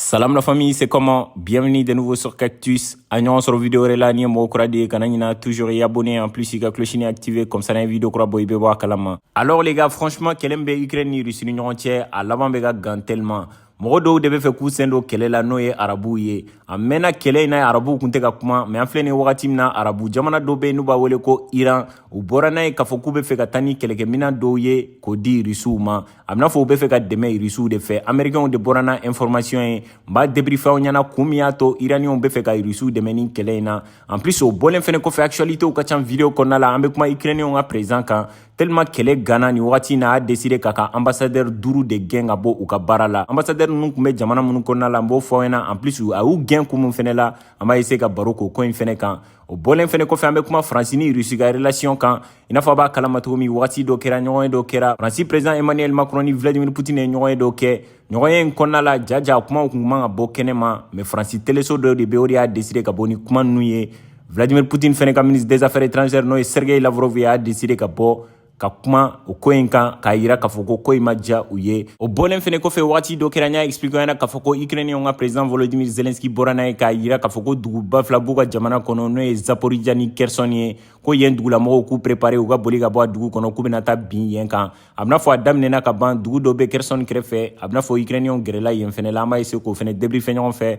Salam la famille, c'est comment Bienvenue de nouveau sur Cactus. An ɲɔgɔn sɔrɔ vidéo wɛrɛ la ni mɔgɔ kura don kana ɲina toujours i abonner en plus ka cloche in activer comme ça ni vidéo kura bɔ i bɛ bɔ a kalama. Alors les gars, franchement, kɛlɛ min bɛ Ukraine ni Russie ni ɲɔgɔn cɛ a laban bɛ ka gan tellement mɔgɔ dɔw de bɛ fɛ k'u sen don kɛlɛ la n'o ye arabuw ye a mɛnna kɛlɛ in na arabuw kun tɛ ka kuma mais an filɛ nin wagati min na arabu jamana dɔ bɛ yen n'u b'a wele ko iran u bɔra n'a ye k'a fɔ k'u bɛ fɛ ka taa ni kɛlɛkɛminɛn dɔw ye k'o di rusiw ma a bɛna fɔ u bɛ fɛ ka dɛmɛ irisiw de fɛ amerikɛnw de bɔra n'a information ye n b'a debrife aw ɲɛna kun min y'a to iraniɛnw bɛ fɛ ka irisiw dɛmɛ ni kɛlɛ in na en plus o bɔlen fɛnɛ kɔfɛ actualitéw ka can video kɔnɔna la an bɛ kuma ukrainiɛnw ka président kan tellement kɛlɛ ganna nin wagati in na a deside k'a ka ambassadeur duuru de gɛn ka bɔ u ka baara la ambassadeur ninnu kun bɛ jamana minnu kɔnɔna la n b'o fɔ aw ɲɛna en plus a y'u gɛn kun min fɛnɛ la an b'a essayer ka baro k'o ko in fɛnɛ kan o bɔlen fɛnɛ kɔfɛ an bɛ kuma faransi ni rusi ka relation kan i n'a fɔ a b'a kalama cogo min wagati dɔ kɛra ɲɔgɔnye dɔ kɛra faransi president emmanuel macron ni vladimir putin ye ɲɔgɔnye dɔ kɛ ɲɔgɔnye in kɔnɔna la jaja kumaw kun man ka bɔ kɛnɛ ma mais faransi teleso dɔ de bɛ o de y'a deside ka bɔ ni kuma nunu ye vladimir putin fɛnɛ ka ministre des affaires étrangères n'o ye sergei lavrov y'a deside ka bɔ ka kuma o ko in kan k'a yira k'a fɔ ko ko in ma diya u ye o bɔlen fɛnɛ kɔfɛ wagati dɔ kɛra n y'a explike ɲɛna k'a fɔ ko ukrainiyɛnw ka president volodimir zelenski bɔra n'a ye k'a yira k'a fɔ ko duguba fila b'u ka jamana kɔnɔ n'o ye zaporija ni kɛrsɔn ye ko yen dugulamɔgɔw k'u prepare u ka boli ka bɔ a dugu kɔnɔ k'u bɛna taa bin yen kan a bɛna fɔ a daminɛna ka ban dugu dɔ bɛ kɛrsɔn kɛrɛfɛ a bɛna fɔ ukrainiyɛnw gɛrɛla yen fɛnɛ la an b'a ese k'o fɛnɛ debrife ɲɔgɔn fɛ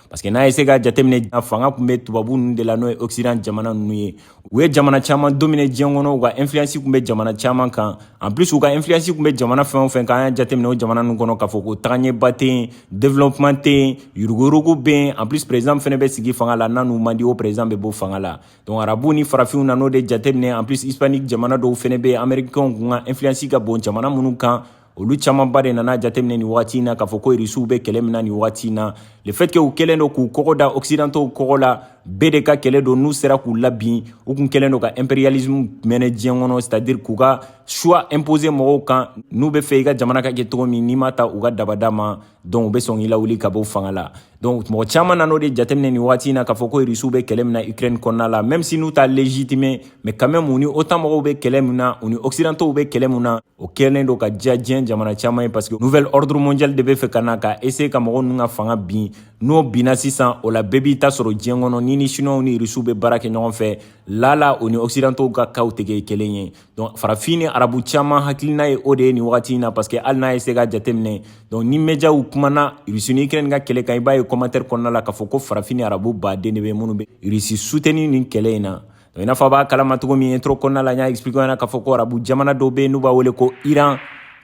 parce que n'a ye essayer ka jateminɛ fanga kun bɛ tubabu ninnu de la n'o ye occident jamana ninnu ye u ye jamana caman domine diɲɛ kɔnɔ u ka influence kun bɛ jamana caman kan en plus u ka influence kun bɛ jamana fɛn o fɛn kan an y'a jateminɛ o jamana ninnu kɔnɔ k'a fɔ ko tagaɲɛba tɛ yen développement tɛ yen yuruguyurugu bɛ yen en plus président fɛnɛ bɛ sigi fanga la n'a n'u man di o président bɛ bɔ fanga la donc arabu ni farafinw nan'o de jateminɛ en plus hispanique jamana dɔw fɛnɛ bɛ yen américains kun ka influence ka bon jamana minnu kan olu camanba de nan'a jateminɛ nin waati na k'a fɔ ko irisiw bɛ kɛlɛ min na nin waati na le fait que u kɛlen don k'u kɔgɔ da occidentaux kɔgɔ la bɛɛ de ka kɛlɛ don n'u sera k'u labin u kun kɛlen don ka impérialisme mener diɲɛ kɔnɔ c'est à dire k'u ka choix imposer mɔgɔw kan n'u bɛ fɛ i ka jamana ka kɛ cogo min n'i ma taa u ka dabada ma donc u bɛ sɔn k'i lawuli ka bɔ fanga la donc mɔgɔ caman nan'o de jateminɛ nin waati na k'a fɔ ko irisiw bɛ kɛlɛ min na ukraine kɔnɔna la même si n'u t'a légitimer mais quand même u ni otan mɔgɔw bɛ kɛlɛ min na u ni occidentaux bɛ kɛlɛ min na o kɛlen don ka diya diɲɛ jamana caman ye parce que nouvel ordre mondial de bɛ fɛ ka na ka essayer ka mɔgɔ ninnu ka fanga bin n'o binna sisan o la bɛɛ b'i ta sɔrɔ diɲɛ kɔnɔ n'i ni chinois ni rusiw bɛ baara kɛ ɲɔgɔn fɛ lala o ni occidentaux ka kow tɛ kɛ kelen ye donc farafin ni arabu caman hakilina ye o de ye nin wagati in na parce que hali n'a ye essayer ka jateminɛ donc ni mediaw kumana rusi ni ukraine ka kɛlɛ kan i b'a ye commentaire kɔnɔna la k'a fɔ ko farafin ni arabu baden de bɛ minnu bɛ rusi soutenir nin kɛlɛ in na i n'a fɔ a b'a kalama cogo min intro kɔnɔna la n y'a expliquer ɲɛna k'a fɔ ko arabu jamana dɔw bɛ yen n'u b'a wele ko iran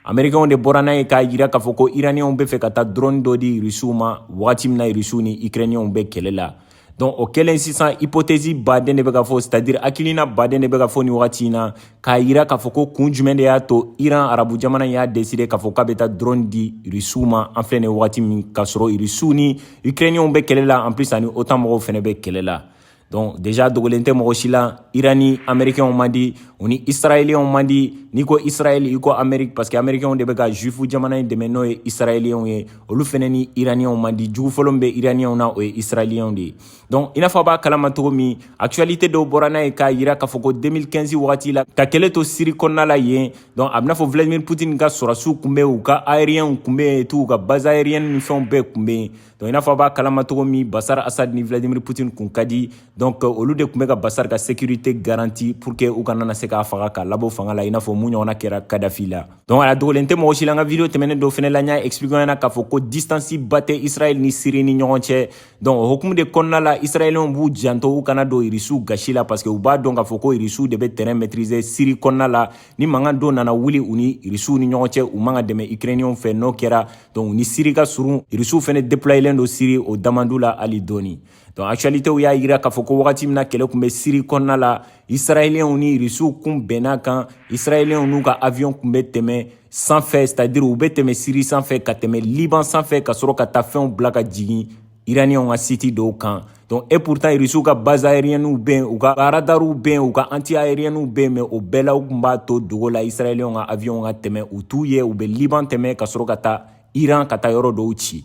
amerikɛnw de bɔra n'a ye k'a yira k'a fɔ ko iraniyɛnw bɛ fɛ ka taa drone dɔ di irisiw ma wagati min na irisiw ni ikrɛniyɛnw bɛ kɛlɛ la donc o kɛlen sisan hypothèse baden de bɛ ka fɔ c'est à dire hakilina baden de bɛ ka fɔ nin wagati in na k'a yira k'a fɔ ko kun jumɛn de y'a to iran arabu jamana y'a décider k'a fɔ k'a bɛ taa drone di irisiw ma an filɛ nin wagati min k'a sɔrɔ irisiw ni ikrɛniyɛnw bɛ kɛlɛ la en plus ani otan mɔgɔw fɛnɛ bɛ kɛlɛ la Donc déjà dogolen tɛ mɔgɔ si la Iran ni Américains man di u ni Israéliens man di n'i ko Israël i ko Amérique parce que Américains de bɛ ka Juif jamana in dɛmɛ n'o ye Israéliens ye olu fɛnɛ ni Iraniens man di jugu fɔlɔ min bɛ Iraniens na o ye Israéliens de ye donc i n'a fɔ a b'a kalama cogo min actualité dɔw bɔra n'a ye k'a yira k'a fɔ ko 2015 wagati la ka kɛlɛ to Syrie kɔnɔna la yen donc a bɛ n'a fɔ Vladimir Poutine ka sɔrɔdasiw kun bɛ u ka aériens kun bɛ yen et tout u ka base aérienne ni fɛnw bɛɛ kun bɛ yen Donc i n'a fɔ a b'a kalama cogo min Bashar Assad ni Vladimir Poutine kun ka di donc olu de kun bɛ ka Bashar ka sécurité garantie pour que u kana na se k'a faga k'a labɔ fanga la i n'a fɔ min ɲɔgɔnna kɛra Kadhafi la donc a dogolen tɛ mɔgɔ si la n ka video tɛmɛnen dɔ fɛnɛ la n y'a expliquer ɲɛna k'a fɔ ko distance ba tɛ Israël ni Syrie ni ɲɔgɔn cɛ donc o hukumu de kɔnɔna la Israéliens b'u janto u kana don Irisiw gasi la parce que u b'a dɔn k'a fɔ ko Irisiw de bɛ terrain maîtriser Syrie kɔnɔna la ni mankan dɔ nana wuli u ni Irisiw ni ɲɔgɔn cɛ u man ka dɛmɛ Ukrainiens fɛ n'o kɛra donc u ni siri ka surun irisiw fɛnɛ deployelen don siri o da man d'u la hali dɔɔni donc actualitéw y'a yira k'a fɔ ko wagati min na kɛlɛ kun bɛ siri kɔnɔna la israɛliyɛnw ni irisiw kun bɛnna kan israɛliyɛnw n'u ka avion kun bɛ tɛmɛ sanfɛ c'est à dire u bɛ tɛmɛ siri sanfɛ ka tɛmɛ liban sanfɛ ka sɔrɔ ka taa fɛnw bila ka jigin iraniɛnw ka siti dɔw kan donc et pourtant irisiw ka base aériennew bɛ yen u ka radariw bɛ yen u ka anti aériennew bɛ yen mais o bɛɛ la u kun b'a to dogo la israɛliyɛnw ka aviɔnw ka tɛmɛ u t'u ye u bɛ liban tɛmɛ ka sɔrɔ ka taa iran ka taa yɔrɔ dɔw ci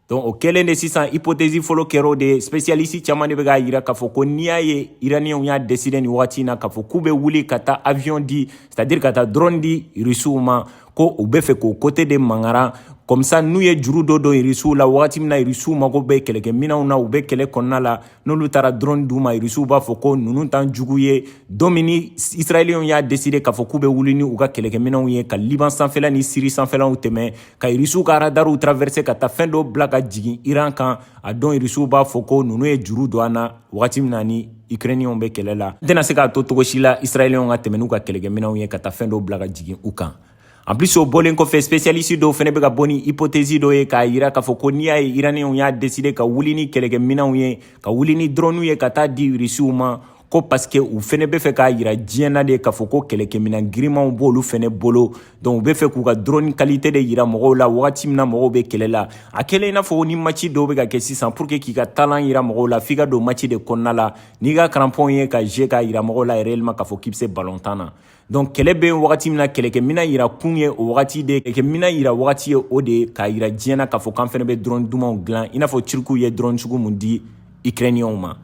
donc o kɛlen de sisan hypothèse fɔlɔ kɛr'o de ye spécialiste caman de bɛ k'a yira k'a fɔ ko n'i y'a ye iraniɛnw y'a décider nin wagati in na k'a fɔ k'u bɛ wuli ka taa avion di c'est à dire ka taa drone di irisiw ma ko u bɛ fɛ k'o côté de mankaran comme ça n'u ye juru dɔ don irisiw la wagati min na irisiw mago bɛ kɛlɛkɛminɛnw na u bɛ kɛlɛ kɔnɔna la n'olu taara drone d'u ma irisiw b'a fɔ ko ninnu t'an jugu ye don min ni israɛliyɛnw y'a décider k'a fɔ k'u bɛ wuli ni u ka kɛlɛkɛminɛnw ye ka liban sanfɛla ni siri sanfɛlaw tɛmɛ ka irisiw ka radariw traverser ka taa fɛn dɔw bila ka jigin iran kan a dɔn irisiw b'a fɔ ko ninnu ye juru don an na wagati min na ni Ukrainiens bɛ kɛlɛ la n tɛna se k'a to cogo si la Israéliens ka tɛmɛ n'u ka kɛlɛkɛminɛnw ye ka taa fɛn dɔ bila ka jigin u kan en plus o bɔlen kɔfɛ spécialiste dɔw fɛnɛ bɛ ka bɔ ni hypothèse dɔ ye k'a yira k'a fɔ ko n'i y'a ye Iraniens y'a décider ka wuli ni kɛlɛkɛminɛnw ye ka wuli ni drone ye ka taa di Russiw ma ko parce que u fɛnɛ bɛ fɛ k'a yira diɲɛ na de k'a fɔ ko kɛlɛkɛminɛn girinmanw b'olu fɛnɛ bolo donc u bɛ fɛ k'u ka drone kalite de yira mɔgɔw la wagati min na mɔgɔw bɛ kɛlɛ la a kɛlen i n'a fɔ ni maci dɔw bɛ ka kɛ sisan pour que k'i ka talan yira mɔgɔw la f'i ka don maci de kɔnɔna la n'i ka karanpɔn ye ka jeu k'a yira mɔgɔw la réellement k'a fɔ k'i bɛ se balon tan na donc kɛlɛ bɛ wagati min na kɛlɛkɛminɛn yira kun ye o wagati de kɛlɛkɛminɛn yira wagati ye o de k'a yira diɲɛ na k'a fɔ k'an fɛnɛ bɛ drone dumanw dilan i n'a fɔ turkiw ye drone sugu mun di ukrainiens ma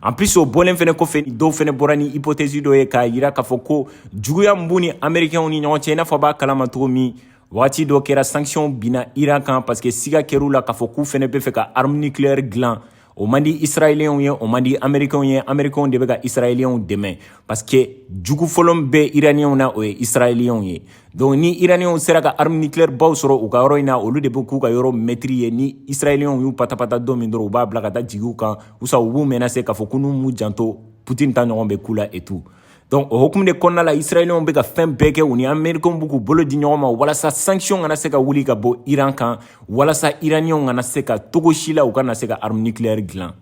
En plus o bɔlen fɛnɛ kɔfɛ dɔw fɛnɛ bɔra ni hypothèse dɔ ye k'a yira k'a fɔ ko juguya mun b'u ni amerikɛnw ni ɲɔgɔn cɛ i n'a fɔ b'a kalama cogo min wagati dɔ kɛra sanction binna iran kan parce que siga kɛr'u la k'a fɔ k'u fɛnɛ bɛ fɛ ka arme nucléaire dilan o man di israɛliyɛnw ye o man di amerikɛnw ye amerikɛnw de bɛ ka israɛliyɛnw dɛmɛ parce que jugu fɔlɔ min bɛ iraniyɛnw na o ye israɛliyɛnw ye donc ni iraniɛnw sera ka arme nucléaire baw sɔrɔ u ka yɔrɔ in na olu de bɛ k'u ka yɔrɔ mɛtiri ye ni israɛliyɛnw y'u patapata don min dɔrɔn u b'a bila ka taa jigi u kan ou soit u b'u mɛnase k'a fɔ ko n'u m'u janto putin ta ɲɔgɔn bɛ k'u la et tout donc o hukumu de kɔnɔna la israɛliyɛnw bɛ ka fɛn bɛɛ kɛ u ni amerikɛnw b'u k'u bolo di ɲɔgɔn ma walasa sanction kana se ka wuli ka bɔ iran kan walasa iraniɛnw kana se ka cogo si la u kana se ka arme nucléaire dilan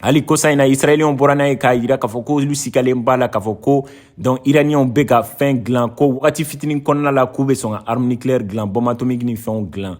hali kosa in na israɛliyɛnw bɔra n'a ye k'a yira k'a fɔ ko olu sikalen b'a la k'a fɔ ko donc iraniyɛnw bɛ ka fɛn dilan ko wagati fitinin kɔnɔna la k'u bɛ sɔn ka arme nucléaire dilan bombe atomique ni fɛnw dilan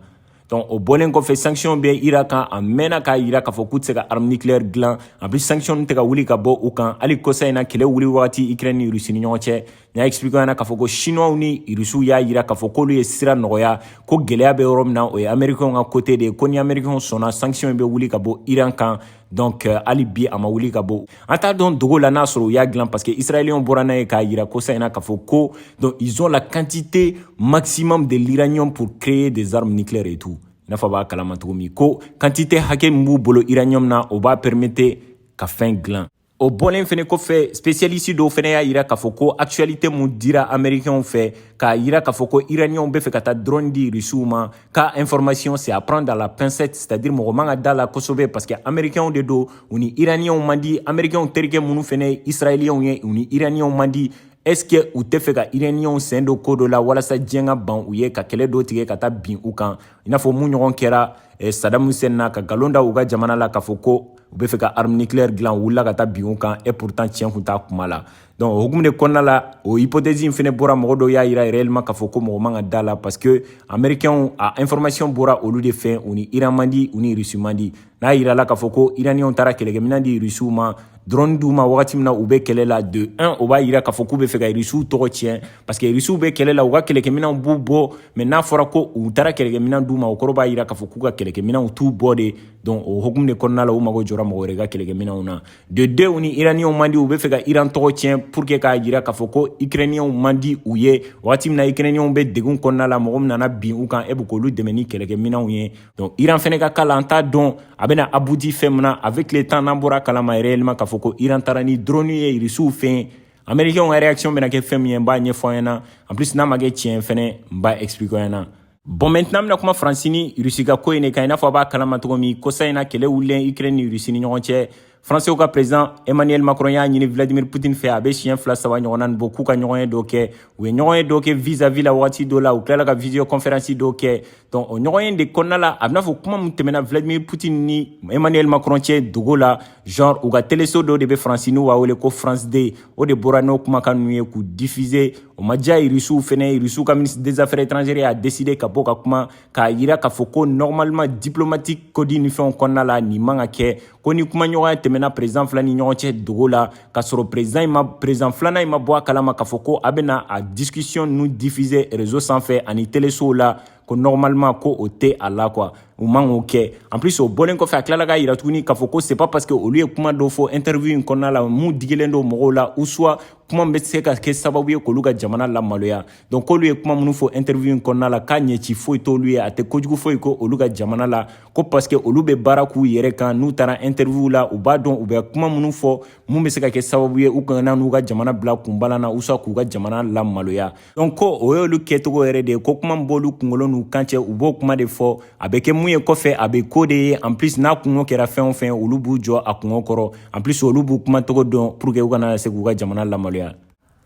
donc o bɔlen kɔfɛ sanction bɛ iran kan a mɛnna k'a yira k'a fɔ k'u tɛ se ka arme nucléaire dilan en plus sanction tɛ ka wuli ka bɔ u kan hali kosa in na kɛlɛ wuli wagati ukraine ni russie ni ɲɔgɔn cɛ n y'a expliqué ɲɛna k'a fɔ ko chinois ni russiw y'a yira k'a fɔ k'olu ye sira nɔgɔya ko gɛlɛya bɛ yɔrɔ min na o ye américains ka côté de ye ko ni américains sɔnna sanction bɛ wuli ka bɔ iran kan donc euh, hali bi a ma wuli ka bɔ an t'a dɔn dogo la n'a sɔrɔ u y'a dilan parce que israéliens bɔra n'a ye k'a yira kosa in na k'a fɔ ko donc ils ont la quantité maximum de l'uranium pour créer des armes nucléaires et tout i n'a fɔ b'a kalama cogo min ko quantité hakɛ min b'u bolo uranium na o b'a permettre ka fɛn dilan O bɔlen fɛnɛ kɔfɛ spécialiste dɔw fɛnɛ y'a yira k'a fɔ ko actualité mun dira américains fɛ k'a yira k'a fɔ ko iraniens bɛ fɛ ka taa drone di russiw ma k'a information c'est à prendre à la pincette c'est à dire mɔgɔ man ka da la kosɛbɛ parce que américains de don u ni iraniens man di américains terikɛ minnu fɛnɛ ye israéliens ye u ni iraniens man di est ce que u tɛ fɛ ka iraniens sen don ko dɔ la walasa diɲɛ ka ban u ye ka kɛlɛ dɔ tigɛ ka taa bin u kan i n'a fɔ mun ɲɔgɔn kɛra eh, sadam hussein na ka galon da u ka jamana la k'a fɔ ko u bɛ fɛ ka arme nucléaire dilan u wulila ka taa bin o kan et pourtant tiɲɛ kun t'a kuma la donc o hukumu de kɔnɔna la o hypothèse in fɛnɛ bɔra mɔgɔ dɔw y'a yira réellement k'a fɔ ko mɔgɔ man ka da la parce que américains a information bɔra olu de fɛ u ni iran man di u ni russie man di n'a yirala k'a fɔ ko iraniens taara kɛlɛkɛminɛn di russiw ma drone d'u ma wagati min na u bɛ kɛlɛ la de un o b'a yira k'a fɔ k'u bɛ fɛ ka russiw tɔgɔ tiɲɛ parce que russiw bɛ kɛlɛ la u ka kɛlɛkɛminɛnw b'u bɔ mais n'a fɔra ko u taara kɛlɛkɛminɛn d'u ma o kɔrɔ b'a yira k'a fɔ k'u ka kɛlɛkɛminɛnw t'u bɔ de donc o hokumu de kɔnɔna la u mago jɔra mɔgɔ wɛrɛ ka kɛlɛkɛminɛw na de deux u ni iraniyanw man di u bɛ fɛ ka iran tɔgɔ tiɲɛ pour que k'a jira k'a fɔ ko ikrɛniyanw man di u ye wagati min na ikrɛniyanw bɛ degun kɔnɔna la mɔgɔ min nana bin u kan e bɛ k'olu dɛmɛ ni kɛlɛkɛminɛw ye donc iran fɛnɛ ka ko la an t'a dɔn a bɛna abouti fɛn min na avec le temps n'an bɔra kalama réellement k'a fɔ ko iran taara ni drone ye irisiw fɛ yen américains ka réaction bɛna kɛ fɛn min ye n b'a ɲɛfɔ an ɲɛna en plus n'a ma kɛ tiɲɛ fɛnɛ n b'a expliquer an ɲɛna Bon maintenant an bɛna kuma Faransi ni Russie ka ko in de kan i n'a fɔ a b'a kalama cogo min kosa in na kɛlɛ wulilen Ukraine ni Russie ni ɲɔgɔn cɛ Faransiw ka président Emmanuel Macron y'a ɲini Vladimir Poutine fɛ a bɛ siɲɛ fila saba ɲɔgɔnna nin bɔ k'u ka ɲɔgɔnye dɔ kɛ u ye ɲɔgɔnye dɔ kɛ vis-à-vis la wagati dɔ la u tilala ka visioconférence dɔ kɛ donc o ɲɔgɔnye in de kɔnɔna la a b'i n'a fɔ kuma min tɛmɛna Vladimir Poutine ni Emmanuel Macron cɛ dogo la genre u ka teleso dɔ de bɛ Faransi n'u b'a wele ko France 2 o de bɔra n'o kumakan ninnu ye k'u diffuser o ma diya irisiw fɛnɛ irisiw ka ministre des affaires étrangères y'a décider ka bɔ ka kuma k'a yira k'a fɔ ko normalement diplomatique code ni fɛnw kɔnɔna la nin man ka kɛ ko ni kumaɲɔgɔnya tɛmɛna président fila ni ɲɔgɔn cɛ dogo la k'a sɔrɔ président filanan in ma bɔ a kalama k'a fɔ ko a bɛna a discussion ninnu diffuser réseau sanfɛ ani telesow la ko normalement ko o tɛ a la quoi u man k'o kɛ en plus o bɔlen kɔfɛ a tilala k'a yira tuguni k'a fɔ ko c'est pas parce que olu ye kuma dɔ fɔ interview in kɔnɔna la mun digilen don mɔgɔw la ou soit kuma bɛ se ka kɛ sababu ye k'olu ka jamana lamaloya donc k'olu ye kuma minnu fɔ interview in kɔnɔna la k'a ɲɛci foyi t'olu ye a tɛ kojugu foyi k'olu ka jamana la ko parce que olu bɛ baara k'u yɛrɛ kan n'u taara interview la u b'a dɔn u bɛ kuma minnu fɔ mun bɛ se ka kɛ sababu ye u kana n'u ka jamana bila kunbalan na ou soit k'u ka jamana lamaloya donc ko o y'olu kɛcogo yɛrɛ de ye ko kuma min b'olu kungolo n'u kan cɛ u b'o kuma de fɔ a bɛ kɛ mun ye kɔfɛ a bɛ k'o de ye en plus n'a kungo kɛra fɛn o fɛn olu b'u jɔ a kungo kɔrɔ en plus olu b'u kumacogo dɔn pour que u kana se k'u ka jamana lamaloya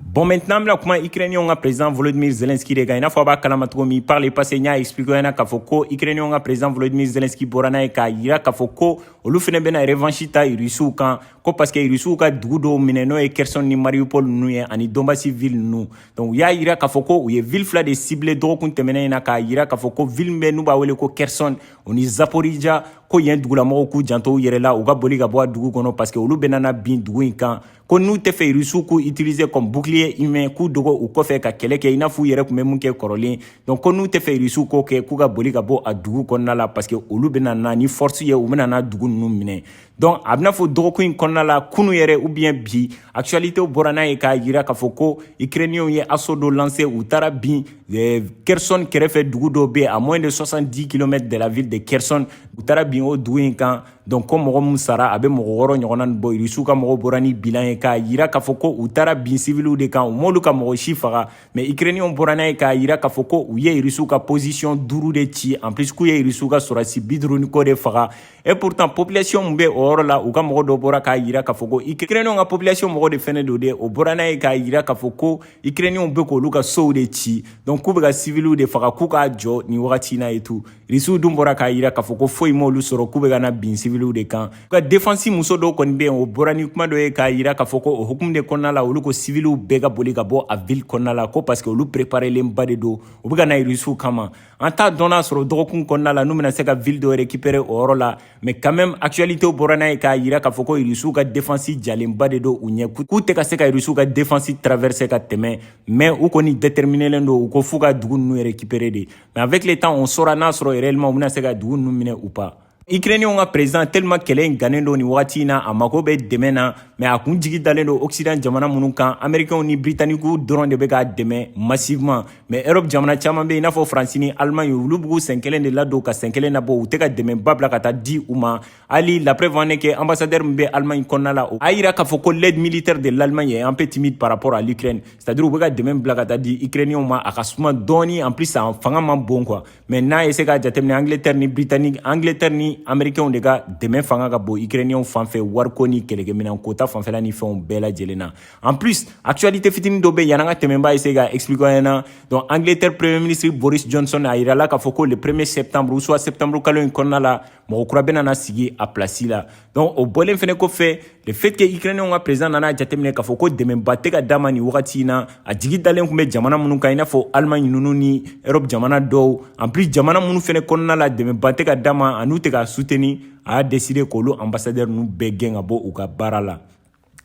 Bon, maintenant, an bɛna kuma Ukrainiens ka président Volodymyr Zelensky de kan i n'a fɔ a b'a kalama cogo min par le passé n y'a expliquer ɲɛna k'a fɔ ko Ukrainiens ka président Volodymyr Zelensky bɔra n'a ye k'a yira k'a fɔ ko olu fɛnɛ bɛna revanche ta Russiw kan ko paske irisiw ka dugu dɔw minɛ n'o ye kherson ni mariupol ninnu ye ani donbasi ville ninnu donc u y'a yira k'a fɔ ko u ye ville fila de cibler dɔgɔkun tɛmɛnen in na k'a yira k'a fɔ ko ville min n'u b'a wele ko kherson o ni zaporija ko yen dugulamɔgɔw k'u janto u yɛrɛ la u ka boli ka bɔ a dugu kɔnɔ paske olu bɛna na bin dugu in kan ko n'u tɛ fɛ irisiw k'u utiliser comme bouclier humain k'u dogo u kɔfɛ ka kɛlɛ kɛ i n'a fɔ u yɛrɛ tun bɛ mun kɛ kɔrɔlen donc ko n'u tɛ fɛ irisiw k'o kɛ k'u ka boli ka bɔ a dugu kɔnɔna la paske olu bɛna na ni force ye u bɛna na dugu ninnu minɛ donc a b'i n'a fɔ dɔgɔkun in kɔnɔna la kunu yɛrɛ ou bien bi actualité bɔra n'a ye k'a jira k'a fɔ ko ukrainiens ye assaut dɔ lancer u taara bin eh, kherson kɛrɛfɛ dugu dɔ bɛ à moins de 70 km de la ville de kherson u taara bin o dugu in kan donc ko mɔgɔ min sara a bɛ mɔgɔ wɔɔrɔ ɲɔgɔnna nin bɔ irisiw ka mɔgɔw bɔra ni bilan ye k'a jira k'a fɔ ko u taara bin siviliw de kan u m'olu ka mɔgɔ si faga mais ukrainiens bɔra n'a ye k'a jira k'a fɔ ko u ye irisiw ka position duuru de ci en plus k'u ye irisiw ka sɔrɔdasi bi duuru ni kɔ de faga et pourtant population min bɛ o yɔrɔ la u ka mɔgɔ dɔ bɔra k'a yira k'a fɔ ko ukrainenw ka population mɔgɔ de fɛnɛ don de o bɔra n'a ye k'a yira k'a fɔ ko ukrainenw bɛ k'olu ka sow de ci donc k'u bɛ ka civiliw de faga k'u k'a jɔ nin wagati in na et tout risiw dun bɔra k'a yira k'a fɔ ko foyi m'olu sɔrɔ k'u bɛ ka na bin civiliw de kan u ka defansi muso dɔw kɔni bɛ yen o bɔra ni kuma dɔ ye k'a yira k'a fɔ ko o hukumu de kɔnɔna la olu ko civiliw bɛɛ ka boli ka bɔ a ville kɔnɔna la ko parce que olu préparelenba de don u bɛ ka na risiw kama an t'a dɔn n'a sɔrɔ dɔgɔkun kɔnɔna la n'u bɛna se ka ville dɔ récupérer o yɔrɔ la mais quand même actualité bɔra n'a ye k'a yira k'a fɔ ko irisiw ka défense jalenba de don u ɲɛ k'u tɛ ka se ka irisiw ka défense traverser ka tɛmɛ mais u kɔni déterminelen don u ko f'u ka dugu ninnu récupérer de mais avec le temps on saura n'a sɔrɔ réellement u bɛna se ka dugu ninnu minɛ ou pas Ikrenenw ka president tellement kɛlɛ in gannen don nin wagati in na a mago bɛ dɛmɛ na mais a kun jigi dalen don occident jamana minnu kan américains ni britanniques dɔrɔn de bɛ k'a dɛmɛ massivement mais europe jamana caman bɛ yen i n'a fɔ france ni allemagne olu b'u sen kelen de ladon ka sen kelen labɔ u tɛ ka dɛmɛba bila ka taa di u ma hali la preuve en est que ambassadeur min bɛ allemagne kɔnɔna la a yira k'a fɔ ko l'aide militaire de l'allemagne est un peu timide par rapport à l'ukraine c'est à dire u bɛ ka dɛmɛ bila ka taa di ikrenenw ma a ka suma dɔɔni en plus a fanga man bon quoi mais n'a ye se k'a jateminɛ angleterre ni britannique angleterre ni amerikɛnw de ka dɛmɛ fanga ka bon ukrainiyɛnw fan fɛ wariko ni kɛlɛkɛminɛnko ta fanfɛla ni fɛnw bɛɛ lajɛlen na en plus actualité fitini dɔ bɛ yan'an ka tɛmɛ n b'a essayer ka expliquer aw ɲɛna donc angleterre premier ministre boris johnson a yirala k'a fɔ ko le premier septembre ou soit septembre kalo in kɔnɔna la mɔgɔ kura bɛna na sigi a pilasi la donc o bɔlen fɛnɛ kɔfɛ le fait que ukrainenw ka président nana jateminɛ k'a fɔ ko dɛmɛba tɛ ka d'a ma nin wagati in na a jigi dalen tun bɛ jamana minnu kan i n'a fɔ allemagne ninnu ni europe jamana dɔw en plus jamana minnu fɛnɛ kɔnɔna la dɛmɛba tɛ ka d'a ma an'u tɛ k'a soutenir a y'a décider k'olu ambassadeur ninnu bɛɛ gɛn ka bɔ u ka baara la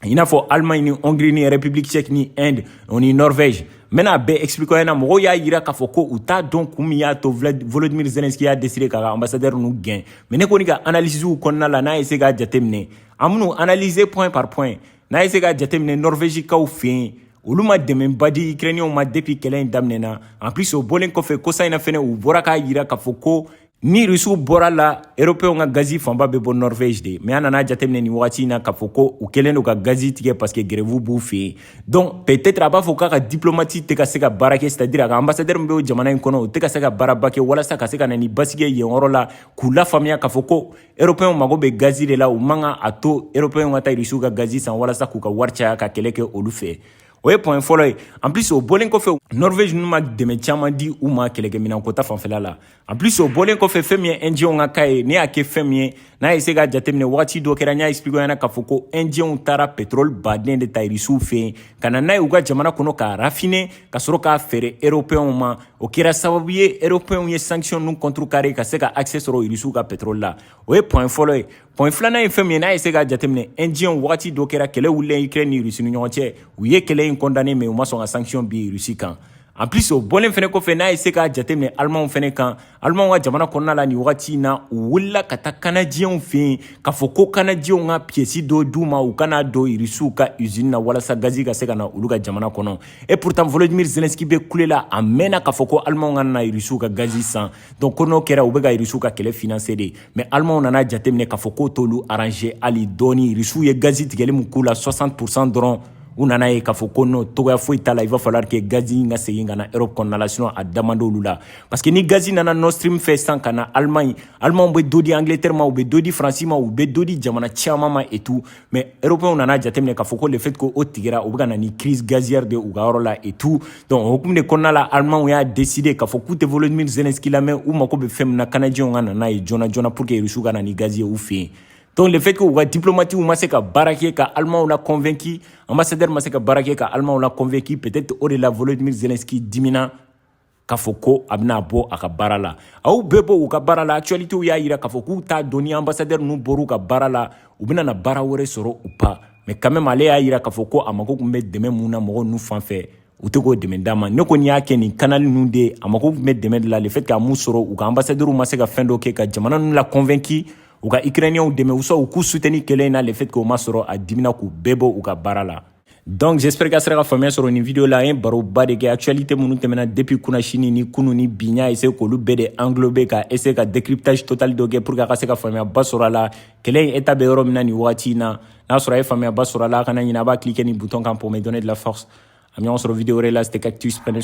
i n'a fɔ Allemagne ni Hongrie ni République tchèque ni Inde o ni Norvège n bɛna a bɛɛ expliquer aw ɲɛna mɔgɔw y'a yira k'a fɔ ko u t'a dɔn kun min y'a to Volodymyr Zelensky y'a décider k'a ka ambassadeur ninnu gɛn mais ne kɔni ka analyses kɔnɔna la n'a ye se k'a jateminɛ an minnu analyser point par point n'a ye se k'a jateminɛ Norvège kaw fɛ yen olu ma dɛmɛba di Ukrainiens ma depuis kɛlɛ in daminɛna en plus o bɔlen kɔfɛ kɔsa in na fɛnɛ u bɔra k'a yira k'a fɔ ko ni rusiw bɔr'a la eropew ka gazi fanba bɛ bɔ norvege de mais an nana jateminɛ nin wagati in na k'a fɔ ko u kɛlen don ka gazi tigɛ parce que grève b'u fɛ yen donc peut-être a b'a fɔ k'a ka diplomatie tɛ ka se ka baara kɛ c'est-à-dire a ka ambassadeur min bɛ o jamana in kɔnɔ o tɛ ka se ka baaraba kɛ walasa ka se ka na ni basigi yen yɔrɔ la k'u lafaamuya k'a fɔ ko eropew mago bɛ gazi de la u man kan a to eropew ka taa rusiw ka gazi san walasa k'u ka wari caya ka kɛlɛ kɛ olu fɛ o ye point fɔlɔ ye en plus o bɔlen kɔfɛ norvege ninnu ma dɛmɛ caman di u ma kɛlɛkɛminɛnko ta fanfɛla la En plus o bɔlen kɔfɛ fɛn min ye indiyɛnw ka cas ye ne y'a kɛ fɛn min ye n'a ye se ka jateminɛ wagati dɔ kɛra n y'a expliqué ɲɛna k'a fɔ ko indiyɛnw taara pétrole baden de ta irisiw fɛ yen ka na n'a ye u ka jamana kɔnɔ k'a raffiner ka sɔrɔ k'a feere européenw ma o kɛra sababu ye européenw ye sanction ninnu contrecarrer ka se ka accès sɔrɔ irisiw ka pétrole la o ye point fɔlɔ ye Point filanan ye fɛn min ye n'a ye se ka jateminɛ indiyɛnw wagati dɔ kɛra kɛlɛ wulilen Ukraine ni Russie ni ɲɔgɔn cɛ u ye kɛlɛ in condamné mais u ma sɔn ka sanction bin Russie kan en plus o bɔlen fana kɔfɛ n'a ye se k'a jateminɛ alimanw fana kan alimanw ka jamana kɔnɔna la nin wagati in na u wulila ka taa kanajiyɛnw fɛ yen k'a fɔ ko kanajiyɛnw ka pièce dɔ d'u ma u ka n'a don irisiw ka usine na walasa gazi ka se ka na olu ka jamana kɔnɔ et pourtant volodymyr zelensky bɛ kule la a mɛnna k'a fɔ ko alimanw kana irisiw ka gazi san donc ko n'o kɛra u bɛ ka irisiw ka kɛlɛ financer de mais alimanw nana jateminɛ k'a fɔ k'o t'olu arranger hali dɔɔni irisiw ye gazi tigɛli min k'u la 60 pourcent dɔrɔn u nan'a ye k'a fɔ ko no togoya foyi t'a la il va falloir que gazi in ka segin ka na europe kɔnɔna la sinon a da man d'olu la parce que ni gazi nana nord stream fɛ sisan ka na allemagne allemagne bɛ dɔ di angleterre ma u bɛ dɔ di faransi ma u bɛ dɔ di jamana caman ma et tout mais européens nana jateminɛ k'a fɔ ko le fait que o tigɛra o bɛ ka na ni crise gazière de u ka yɔrɔ la et tout donc o hukumu de kɔnɔna la allemands y'a décidé k'a fɔ k'u tɛ volodymyr zelensky lamɛn u mako bɛ fɛn min na kanajiyɛnw ka na n'a ye joona joona pour que rusiw ka na ni gazi ye u fɛ yen donc le fait que u ka diplomatiw ma se ka baara kɛ ka alimanw la convaincu ambassadeur ma se ka baara kɛ ka alimanw la convaincu peut-être o de la volodymyr zelensky dimina k'a fɔ ko a bɛna bɔ a ka baara la a y'u bɛɛ bɔ u ka baara la actualitéw y'a yira k'a fɔ k'u t'a dɔn ni ambassadeur ninnu bɔr'u ka baara la u bɛna na baara wɛrɛ sɔrɔ ou pas mais quand même ale y'a yira k'a fɔ ko a mago tun bɛ dɛmɛ min na mɔgɔ ninnu fan fɛ u tɛ k'o dɛmɛ d'a ma ne kɔni y'a kɛ nin kanali ninnu de ye a mago tun bɛ dɛmɛ de la le fait k'a m'o sɔrɔ u ka ambassadeur ma se ka fɛn dɔ kɛ ka jamana ninnu la convaincu u ka ukrainiens dɛmɛ u sɔn u k'u soutenu kɛlɛ in na le fait k'o ma sɔrɔ a dimina k'u bɛɛ bɔ u ka baara la donc j'espère k'a sera ka faamuya sɔrɔ nin vidéo la an ye baroba de kɛ actualité minnu tɛmɛna depuis kunasini ni kunu ni bi n y'a essayé k'olu bɛɛ de englober ka essayer ka décryptage total dɔ kɛ pour que a ka se ka faamuyaba sɔrɔ a la kɛlɛ in état bɛ yɔrɔ min na nin wagati in na n'a sɔrɔ a ye faamuyaba sɔrɔ a la a kana ɲinɛ a b'a cliquer nin bouton kan pour me donner de la force an bɛ ɲɔgɔn sɔrɔ vidéo wɛrɛ la c'était Cactus prenez